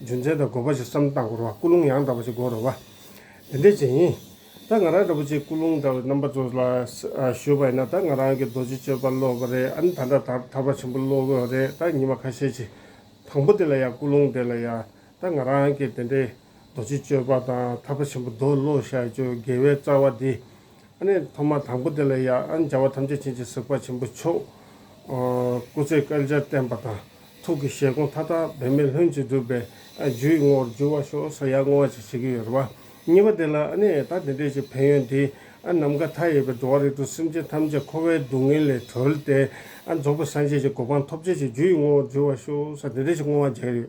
རྒྱུ་མཚན་དང་དགོས་པ་ཞིག་བསམ་སྟངས་སྐོར་བ་སྐུལ་སློང་ཡང་དག་པ་ཞིག་དགོས་རོགས་པ། འདི་འདྲས་ཅན་ཡིན། ད་ང་རང་འདྲ་པོ་ཆེ་སྐུལ་སློང་འདྲ་བའི་རྣམ་པ་ཚོ་ལ་ཞུས་པ་ཡིན་ན་ད་ང་རང་གི་རྡོ་རྗེ་གཅོད་པ་བློ་བ་རེད་ཨ་ནི་ད་འདྲ་དར་དར་བ་ཆེན་པོ་བློ་དགོས་བ་རེད་ད་ཉི་མ་ཁ་ཤས་ཆེ་དང་པོ་དེ་ལ་ཡང་སྐུལ་སློང་འདྲས་ལ་ཡང་ད་ང་རང་གི་དེ་འདྲའི་རྡོ་རྗེ་གཅོད་པ་དང་དར་བ་ཆེན་པོ་རྡོ་བློ་ཞལ་གཅོད་དགེ་བའི་རྩ་བ་འདི། ཨ་ནི་ཐོག་མར་དང་པོ་དེ་ལ་ཡ་ཨན་བྱ་བ་ཐམས་ཅད་བྱིན་གྱིས་གཟིགས་པ་ཆེན་པོ་མཆོག། སྐུ་ཚེ་བསྐལ་བརྒྱར་བརྟན་པ་དང་ཐུགས་ཀྱི་བཞེད་དགོངས་མཐའ་དག་འབད་མེད་ལྷུན་གྱིས་འགྲུབ་པའི་རྒྱུ་ཡི་ངོ་བོར་འགྱུར་བར་ཤོག་ས་ཡ་བསྔོ་བ་ཅིག་བྱེད་ཀྱི་ཡོད་པ། གཉིས་པ་དེ་ལ་ཨ་ནི་ད་དེ་འདྲའི་ཅིག་ཕན་ཡོན་འདིས་ཨ་ནམ་མཁའ་མཐའ་ཡས་པའི་འགྲོ་བ་རིགས་དྲུག་སེམས་ཅན་ཐམས་ཅད་འཁོར་བའི་སྡུག་བསྔལ་ལས་གྲོལ་ཏེ་ཨ་རྫོགས་པའི་སངས་རྒྱས་ཀྱི་གོ་འཕང་ཐོབ་བྱེད་ཀྱི་རྒྱུ་ཡི་ངོ་བོར་འགྱུར་བར་ཤོག་ས་དེ་འདྲའི་ཅིག་བསྔོ་བ་བརྒྱད་ཡོད།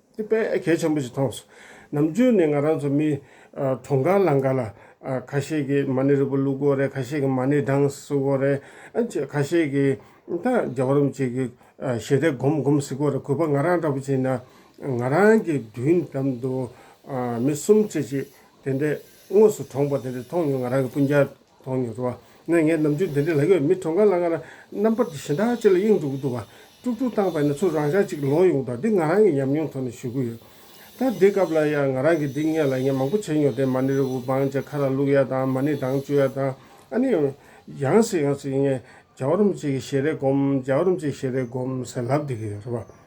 དེ་དཔེ་གལ་ཆེན་པོ་ཞིག་མཐོང་སོང། ནམ་རྒྱུན་ནས་ང་རང་ཚོ་མི་གྲོང་དཀར་ལང་ཀ་ལ། ཁ་ཤས་ཀྱིས་མ་ཎི་རིལ་བུ་བླུག་དགོས་རེད་ཁ་ཤས་ཀྱིས་མ་ཎི་གྲངས་བཟི་དགོས་རེད། ཁ་ཤས་ཀྱིས་ད་རྒྱ་བ་རུམ་ཅིག་གི་ཞལ་རས་སྒོམ་སྒོམ་བཟི་དགོས་རེད་གུས་པ་ང་རང་འདྲ་པོ་བྱས་ན། ང་རང་གི་མདུན་ལམ་དུ། མི་གསུམ་བཅས་ཅིག་དེ་འདྲས་དངོས་སུ་གྲོངས་པ་དེ་འདྲས་མཐོང་མྱོང་ང་རང་གི་སྤུན་རྒྱ། མཐོང་མྱོང་འགྲོ་བ་ངས་ངའི་ནམ་རྒྱུན་འདི་འདྲའི་ལག་ཡོད་མི་གྲོངས་ག་ལ་ང་རྣམ་པར་གྱི་ཞེ་དྲག་ཅིག་ལ་གཡེང་འགྲོ་གི་འདུག་བ་ཀྲུག་ཀྲུག་བཏང་བས་ན་ཚུར་རང་ཤག་ཅིག་ལོག་ཡོང་དང་འདི་ང་རང་གི་ཉམས་མྱོང་ཐོག་ནས་ཞུ་གི་ཡོད། ད་འདི་སྐབས་ལ་ཡང་ང་རང་གིས་འདི་སྔས་ལ་ངས་མང་པོ་བྱས་མྱོང་དེ་མ་ཎི་རི་བོ་བང་ཆ་ཁ་ར་བླུགས་ཡ་དང་མ་ཎི་དང་བཅོས་ཡ་དང་ཨ་ནི། ཡང་སྲིད་ཡང་སྲིད་ངས་རྒྱ་བ་རོམ་ཅིག་གི་ཞལ་རས་བསྒོམ་རྒྱ་བ་རོམ་ཅིག་གི་ཞལ་རས་བསྒོམ་ཟེར་ལབ་བསྡད་ཀྱི་ཡོད་རེད་བ།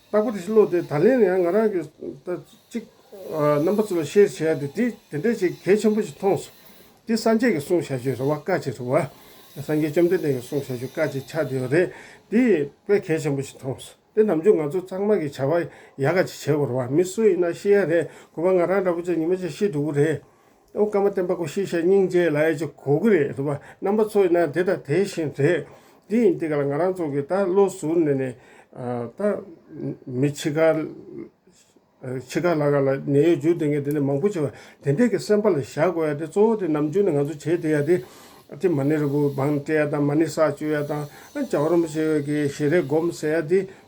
རྟག་པར་བློ་དེ་ད་ལན་ཡང་ང་རང་གིས་ད་ཅིག་རྣམ་པ་ཚོ་ལ་བཤད་བྱས་ཏེ་དེ་དེ་འདྲའི་ཆེ་གལ་ཆེན་པོ་ཞིག་མཐོང་སོང། འདི་སངས་རྒྱས་ཀྱི་གསུང་བྱ་རྒྱུའི་རེ་བ་དཀའ་ཆེ་རེད་བ། སངས་རྒྱས་བཅོམ་ལྡན་འདས་ཀྱི་གསུང་བྱ་རྒྱུ་དཀའ་ཆེ་ཆགས་བསྡད་ཡོད་རེད། འདི་དཔེ་གལ་ཆེན་པོ་ཞིག་མཐོང་སོང། འདི་ནམ་རྒྱུན་ང་ཚོ་ཚང་མ་གིས་བྱ་བ་ཡག་ག་ཅིག་བྱེད་དགོས་རེད་བ་མི་སུ་ཡིན་ན་ཤེས་ཡ་རེད་གོ་བ་ང་རང་འདྲ་པོ་ཚོ་ཉི་མ་ཆ་ཤས་དྲུག་པོ་རེད། ཨོ་བཀའ་མ་བསྟན་པ་ཀུ་ཤའི་ཤ་སྙིང་རྗེའི་ལ་ཡ་ཅིག་གོ་གི་རེད་འདུག་པ་རྣམ་པ་ཚོ་ཡིན་ན་དེ་དང་དེ་བཞིན་རེད། འདི་ཡིན་འདི་ག་ལ་ང་རང་ཚོ་གི་ད་བློ་ཟུར་ནས་ནས། ད། མི་འཆི་ཁ། འཆི་ཁ་ལ་ག་ལ་ནད་ཡོད་འཇུག་དེ་ངས་དེ་ནས་མང་པོ་བྱས་པ་དེ་འདྲས་ཀྱི་སེམས་པ་ལ་བཞག་དགོས་ཡ་དེ་གཙོ་བོ་དེ་ནམ་རྒྱུན་ནས་ང་ཚོ་བྱེད་དེ་ཡ་དེ། ཏི་མ་ནི་རི་བོ་བང་སྤྲད་ཡ་དང་མ་ནི་ས་བཅོས་ཡ་དང། ཇའོ་རོམ་བྱེད་ཡོད་ཀྱི་ཞེ་རེ་སྒོམ་ཟེར་ཡ་དེ།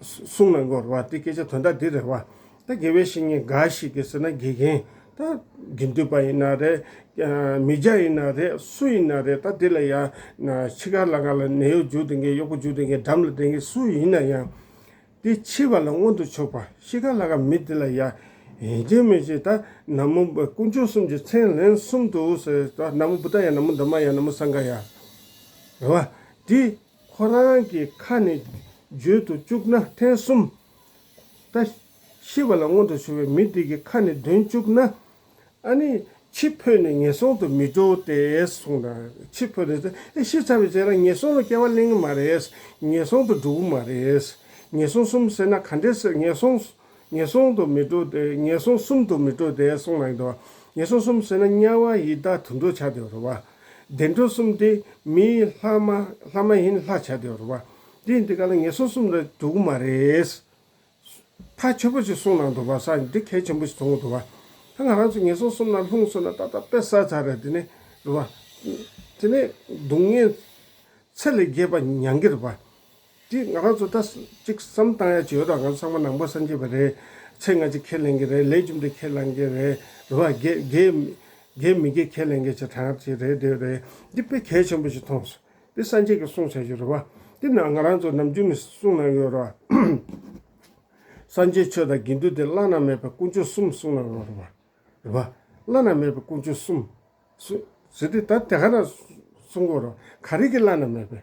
གསུང་ལ་འགོར་བ་དེ་སྐད་ཆ་དོན་དག་འདི་རེད་བ། ད་དགེ་བའི་བཤེས་གཉེན་འགའ་ཞིག་གིས་ཟེར་ན་དགེ་རྒན་ད་དགེ་འདུན་པ་ཡིན་ན་རེད། མི་སྦྱ་ཡིན་ན་རེད་སུ་ཡིན་ན་རེད་ད་དེ་ལ་ཡ། འཆི་ཁར་ལ་ག་ལ་ནད་གཡོག་འཇུག་འདོན་མཁན་གཡོག་པོ་འཇུག་འདོན་མཁན་འགྲམ་ལ་འདེད་མཁན་སུ་ཡིན་ན་ཡང། དེ་འཆི་བ་ལ་མངོན་དུ་ཕྱོགས་པ་ཤི་ཁར་ལ་ག་མི་དེ་ལ་ཡ། ཡིན་ཅིག་མིན་ཅིག་ད་ན་མོ་དཀོན་མཆོག་གསུམ་གྱི་མཚན་ལན་གསུམ་དུ་ཟེར་ད་ན་མོ་བུ་ད་ཡ་ན་མོ་འདབ་མ་ཡ་ན་མོ་ས་འགའ་ཡ། རེད་བ། དེ། ཁོ་རང་གི་ཁ་ནས་བརྗོད་དུ་བཅུག་ན་ཐེངས་གསུམ། ད་ཤི་བ་ལ་སྔོན་དུ་བྱུང་བའི་མི་དེ་གི་ཁ་ནས་འདོན་བཅུག་ན། ཨ་ནི་འཆི་འཕོས་ནས་ངན་སོང་དུ་མི་འགྲོ་སྟེ་གསུངས་ན། འཆི་འཕོས་ནས་ཨེ་ཤི་ཚར་བའི་རྗེས་ལ་ངན་སོང་ལ་སྐྱེ་བ་གླེང་གི་མ་རེད། ངན་སོང་དུ་འགྲོ་གི་མ་རེད། ངན་སོང་གསུམ་ཟེར་ན་ག་འདྲས་ཟེར་ངན་སོང་ངན་སོང་དུ་མི་འགྲོ་སྟེ་ངན་སོང་གསུམ་དུ་མི་འགྲོ་སྟེ་གསུངས་གནང་གདོན་ངན་སོང་གསུམ་ཟོས་ན་དམྱལ་བ་ཡི་དྭགས་དུད་འགྲོ་བྱ་སྟེ་རུ་བ། བདེ་འགྲོ་གསུམ་སྟེ་མིའི་ལྷ་མ་ལྷ་མ་ཡིན་ལྷ་བྱ་སྟེ་རུ་བ། འདི་ཡིན་ཏེ་ག་ལ་ངན་སོང་གསུམ་ལ་འགྲོ་གི་མ་རེད། ཐ་ཆོད་པོ་ཅིག་གསུངས་གནང་འདུག་པ་ས་འདི་གལ་ཆེན་པོ་ཞིག་མཐོང་གི་འདུག་བ། ད་ང་རང་ཚོ་ངན་སོང་གསུམ་ལ་ལྷུང་སོང་ན་ཏག་ཏག་དཔེ་གསར་ཚར་རེད་དེ་ནས་རུ་བ། དེ་ནས་སྡུག་བསྔལ་ཚད་ལས་རྒྱས་པ་མྱང་གི་རུ་བ། དེ་ང་རང་ཚོ་ད་ཅིག་བསམ་བཏང་ཡ་ཅིག་ཡོད་རང་ང་ཚང་མ་ནང་པ་སངས་རྒྱས་པ་རེད་ཚེ་སྔ་ཅིག་ཁས་ལེན་གྱི་རེད་ལས་བཅུམ་དེ་ཁས་ལེན་གྱི་རེད་རེད་བ་དགེ་དགེ་མི་དགེ་ཁས་ལེན་གྱི་ཅིག་གྲངས་ཅིག་རེད་དེ་རེད་འདི་དཔེ་གལ་ཆེན་པོ་ཅིག་མཐོང་སོང་དེ་སངས་རྒྱས་ཀྱི་གསུང་བྱ་རྒྱུ་རེད་བ་དེ་ན་ང་རང་ཚོ་ནམ་རྒྱུན་ནས་གསུང་གནང་གི་ཡོད་རེད་བ། སངས་རྒྱས་ཆོས་དང་དགེ་འདུན་དེ་བླ་ན་མེད་པའི་སྐུ་མཆོག་གསུམ་གསུང་གནང་གི་ཡོད་རེད་བ། བླ་ན་མེད་པའི་སྐུ་མཆོག་གསུམ། གསུང། ཟེར་དུས་ད་དེ་ག་ན་གསུང་གི་ཡོད་རེད་བ་ག་རིགས་ཀྱི་བླ་ན་མེད་པའི།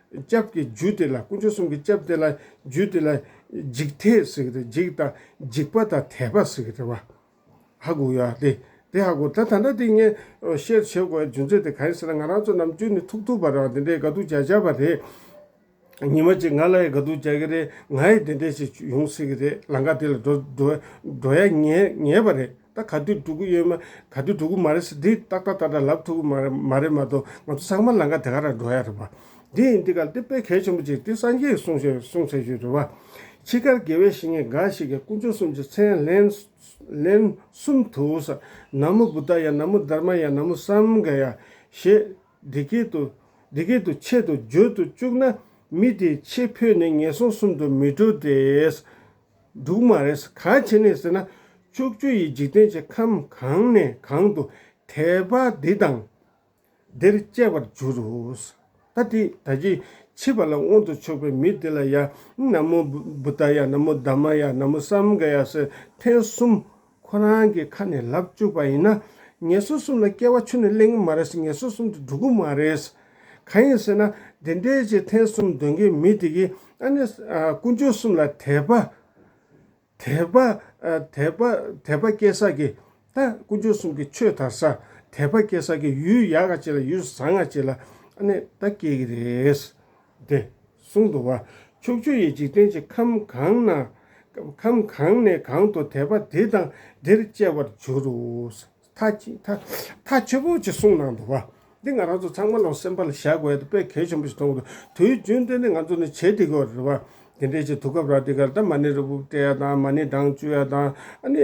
སྐྱབས་ཀྱི་རྒྱུད་དེ་ལ་དཀོན་མཆོག་གསུམ་གྱི་སྐྱབས་དེ་ལ་རྒྱུད་དེ་ལ། འཇིགས་ཐེག་ཟེར་གི་དེ་འཇིགས་དང་འཇིགས་པ་དང་དད་པ་ཟེར་གི་དེ་བ། ཧ་གུ་ཡ་སྟེ། དེ་ཧ་གུ་ད་ད་ནྡ་དེ་ངས་བཤད་བྱེད་དགོས་པའི་རྒྱུ་མཚན་དེ་ག་ཡིན་ཟེར་ན་ང་རང་ཚོ་ནམ་རྒྱུན་ནས་ཐུག་ཐུག་པར་རང་དེ་འདྲའི་དགའ་སྡུག་བྱ་བྱ་བ་རེད། ཉིན་མ་གཅིག་ང་ལ་ཡི་དགའ་སྡུག་བྱ་གི་རེད་ང་ཡི་དེ་འདྲས་ཞིག་ཡོང་སྲིད་གི་རེད་ལང་ཀ་དེ་ལ་འགྲོ་འགྲོ་ཡ་ངེས་ངེས་པ་རེད། ད་ག་དུས་འགྲོ་གི་ཡོད་མ་ག་དུས་འགྲོ་གི་མ་རེད་ཟེར་དེ་ཏག་ཏག་ཏག་ཏག་ལབ་ཐུབ་ཀི་མ་རེད་མ་གཏོགས་ང་ཚོ་ཚང་མ་ལང་ཀ་དེ་ག་རང་འགྲོ་ཡ་རེད་པ། དེ་ཡིན་དེ་ག་དེ་དཔེ་གལ་ཆེན་པོ་གཅིག་དེ་སངས་རྒྱས་ཀྱི་གསུང་བཤད་གསུང་བྱ་རྒྱུ་རེད་བ། འཆི་ཁར་དགེ་བའི་བཤེས་གཉེན་འགའ་ཞིག་གིས་དཀོན་མཆོག་གསུམ་གྱི་མཚན་ལན། ལན། གསུམ་དུ་ས། ན་མོ་བུ་ད་ཡ་ན་མོ་དར་མ་ཡ་ན་མོ་སམ་ག་ཡ། ཞེས། འདི་སྐད་དུ། འདི་སྐད་དུ་ཆེད་དུ་བརྗོད་དུ་བཅུག་ན། མི་དེའི་ཆེས་ཕོད་ནི་ངན་སོང་གསུམ་དུ་མི་འགྲོ་སྟེ། འབྲུག་མ་རེད། གང་བྱས་ནས་ཟེར་ན་ཕྱོགས་བཅུ་ཡི་འཇིག་རྟེན་གྱི་ཁམས་གང་ནས་གང་དུ་དད་པ་འདི་དང་འདིར་སྐྱེ་བར་འགྱུར་རོ། ད་དེ་ད་ཀྱི་འཆི་བ་ལ་དབང་དུ་ཕྱོགས་པའི་མི་དེ་ལ་ཡང་ན་མོ་བུདྡྷ་ཡ་ན་མོ་དཱ་མ་ཡ་ན་མོ་སམ་ག་ཡ་སེར་ཐེངས་གསུམ་ཁོ་རང་གི་ཁ་ནས་ལབ་བཅུག་པ་ཡིན་ན། ངེད་ཚོ་གསུམ་ལ་སྐྱེ་བ་ཆུ་ནས་གླེང་གི་མ་རེད་ཟེར་ངེད་ཚོ་གསུམ་དུ་འགྲོ་གི་མ་རེད། གང་ཡིན་ཟེར་ན། འདི་འདྲའི་ཆེ་ཐེངས་གསུམ་འདོན་མཁན་མི་དེ་གིས་ཨ་ནི། དཀོན་མཆོག་གསུམ་ལ་དད་པ། དད་པ། དད་པ། དད་པ་སྐྱེ་ས་ཀྱི། ད་དཀོན་མཆོག་གསུམ་གྱི་ཆོས་དར་ས། དད་པ་སྐྱེ་ས་ཀྱི་ཡུལ་ཡག་ག་ཅིག་ལ་ཡུལ་བཟང་ག་ཅིག་ལ། ཨ་ནི་ད་སྐྱེ་གི་རེད། དེ་གསུང་དུ་བ་ཕྱུགས་ཆུ་ཡི་འཇིག་རྟེན་གྱི་ཁམས་གང་ན། ཁམས་གང་ནས་གང་དུ་དད་པ་དེ་དང་དེར་སྐྱེ་བར་འགྱུར་རོ། མཐའ་ཆེ་པོ་གཅིག་གསུང་ནང་དུ་བ། འདི་ང་རང་ཚོ་ཚང་མ་ལོག་སེམས་པ་ལ་བཞག་དགོས་ཡོད་དོ་དཔེ་གལ་ཆེན་པོ་ཞིག་མཐོང་གི་འདུག་དུས་རྒྱུན་དེ་ནི་ང་ཚོ་ནི་བྱེད་དེ་གོ་རེད་བ། དེ་འདྲའི་ཆེད་དུ་སྐབས་རག་དེ་གར་ད་མ་ནི་རི་བོ་བཀྲེས་ཡ་དང་མ་ནི་འདང་བཅུ་ཡ་དང་ཨ་ནི།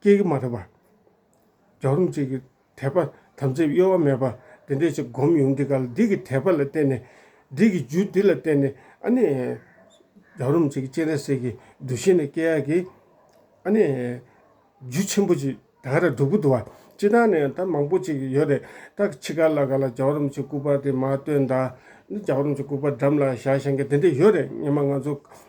སྐྱེས་ཀྱི་མ་ཐག་པ། རྒྱགས་རུམ་བཅས་ཀྱི་དད་པ་དམ་ཚིག་གཡོ་བ་མེད་པ་འདི་འདྲས་ཅིག་བསྒོམ་ཡོང་འདི་ག་ལ་འདི་གི་དད་པ་ལ་བརྟེན་ནས། འདི་གི་རྒྱུ་འདི་ལ་བརྟེན་ནས་ཨ་ནི། རྒྱགས་རུམ་བཅས་ཀྱི་སྤྱན་རས་གཟིགས་ཀྱི་འདུ་ཤེས་ནི་སྐྱེ་ཡག་གི། ཨ་ནི། རྒྱུ་ཆེན་པོ་ཅིག་དག་ར་འབྲུག་པོ་དུ་བ་སྤྱི་དང་ནི་ད་མང་པོ་ཅིག་ཡོད་རེད་ད་ཕྱི་ག་ལ་ག་ལ་རྒྱགས་རུམ་བཅས་སྐུ་པར་དེ་མ་བཏོན་ད་ནི་རྒྱགས་རུམ་བཅས་སྐུ་པར་འགྲམ་ལ་བཞག་ཞེན་གྱི་འདི་འདྲས་ཡོད་རེད་སྙེ་མ་ང་ཚོ།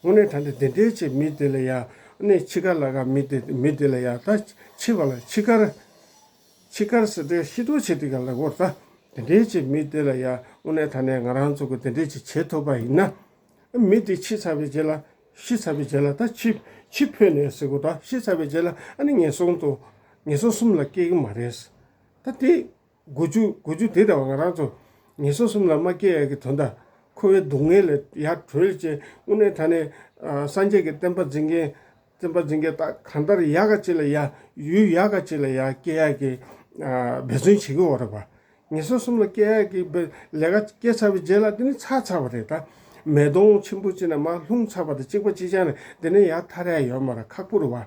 སྔོན་ནས་ད་ནི་དེ་འདྲའི་ཆེད་མི་དེ་ལ་ཡང་ནི་འཆི་ཁར་ལ་ག་མི་དེ་མི་དེ་ལ་ཡང་ད་འཆི་བ་ལ་འཆི་ཁར། འཆི་ཁར་ཟེར་སྒྲའི་ཤེས་རྟོགས་བྱེད་དེ་ག་ལ་གོ་ད་དེ་འདྲའི་ཆེད་མི་དེ་ལ་ཡང་སྔོན་ནས་ད་ནི་ང་རང་ཚོ་གི་དེ་འདྲའི་ཆེད་བྱེད་ཐུབ་པ་ཡིན་ན། མི་དེ་འཆི་ཚར་བའི་རྗེས་ལ་ཤི་ཚར་བའི་རྗེས་ལ་ད་འཆི་འཆི་འཕོས་ནས་ཟེར་གོ་ད་ཤི་ཚར་བའི་རྗེས་ལ་ནི་ངན་སོང་དང། ངན་སོང་གསུམ་ལ་སྐྱེ་གི་མ་རེད། ད་དེ། དགུ་བཅུ་དགུ་བཅུ་དེ་དང་ང་རང་ཚོ་ངེད་སོ་གསུམ་ལ་མ་སྐྱེས་ཡས་ཀྱི་དོ་ཟླ། འཁོར་བའི་སྡུག་བསྔལ་ལས་ཡར་གྲོལ་ཅན་དབུ་མའི་ད་ནས། སངས་རྒྱས་ཀྱི་བསྟན་པ་འཛིན་མཁན་བཙན་པ་འཛིན་མཁན་དག་གང་ལྟར་ཡག་ག་ཅིག་ལ་ཡ། ཡུལ་ཡག་ག་ཅིག་ལ་ཡ་སྐྱེས་ཡས་ཀྱི་འབད་བརྩོན་བྱེད་ཀྱི་འོག་རེད་པ། ངེད་སོ་གསུམ་ལ་སྐྱེས་ཡས་ཀྱི་འབད་ལས་ཀ་སྐྱེས་ཚར་བའི་རྗེས་ལ་འདི་ནི་ཚར་ཚར་བ་རེད་ད། མེ་དོང་ཆེན་པོ་གཅིག་ན་མ་ལྷུང་ཚར་བ་དང་གཅིག་པ་གཅིག་ཆགས་ནས་འདི་ནས་ཡར་ཐར་ཡས་ཡོད་མ་ར་ཁག་པོ་རེད་བ།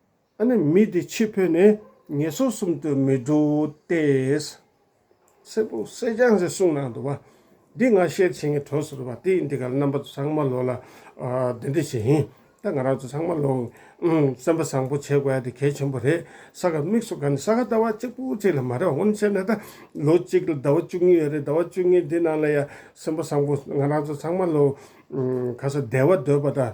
ཨ་ནི་མི་དེ་ཕྱིར་འཕོས་ནས་ངལ་སོ་གསུམ་དུ་མི་འགྲོ་སྟེ། སེར་པོ་སེར་སྦྱངས་སའི་གསུང་ནང་དུ་བ། འདི་ང་བཤད་བྱེད་ངའི་གྲོགས་སུ་རུ་བ་དེས་འདི་ག་ལ་རྣམ་པ་ཚང་མ་ལོ་ལ་འདི་འདི་བྱེད་ཧིན་ད་ང་རང་ཚོ་ཚང་མ་ལོ་སེམས་པ་བཟང་པོ་བྱེད་དགོས་ཡ་དེ་གལ་ཆེན་པོ་རེད་ས་ག་མིག་སོ་ག་ནི་ས་ག་ཟླ་བ་གཅིག་པོ་གཅིག་ལ་མ་རེད་བ་ངོ་ནས་བཤད་ན་ད་ལོ་གཅིག་ལ་ཟླ་བ་བཅུ་གཉིས་ཡོད་རེད་ཟླ་བ་བཅུ་གཉིས་འདི་ནང་ལ་ཡ་སེམས་པ་བཟང་པོ་ང་རང་ཚོ་ཚང་མ་ལོ་ག་ས་བདེ་བ་འདོད་པ་ད།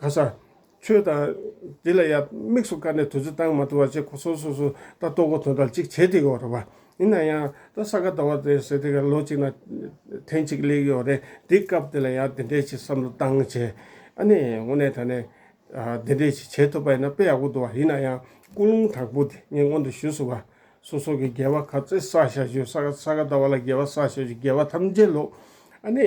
ག་ས། ཆོས་དང། དེ་ལ་ཡང་དམིགས་སུ་བཀར་ནས་དུས་ཚོད་གཏང་མ་ཐུབ་བ་བཅས་གོ་སོ་སོ་སོ་ད་ལྟོ་གོ་དོན་དང་གཅིག་བྱེད་དེ་གི་འོ་རེད་པ། ཡིན་ན་ཡང་ད་ས་ག་ད་བ་དེ་ཟེར་དེ་ག་ལོ་གཅིག་ན་ཐེངས་གཅིག་གླེགས་ཡོ་རེད་དེ་སྐབས་དེ་ལ་ཡང་དེ་འདྲས་ཅིག་བསམ་བློ་བཏང་བྱས། ཨ་ནི་དངོས་གནས་ད་ནས། དེ་འདྲས་ཅིག་བྱེད་ཐུབ་པ་ཡིན་ན་དཔེ་ཡག་པོ་འདུག་བ་ཡིན་ན་ཡང་ཀུན་སློང་དྲག་པོ་དེ་ངས་སྔོན་དུ་ཞུས་སོང་བ། སོ་སོ་གི་འགལ་བ་ག་ཚད་བསགས་བཞག་ཆུ་ས་ག་ད་བ་ལ་འགལ་བ་བསགས་བཞག་ཆུ་འགལ་བ་ཐམས་ཅད་ལོག། ཨ་ནི།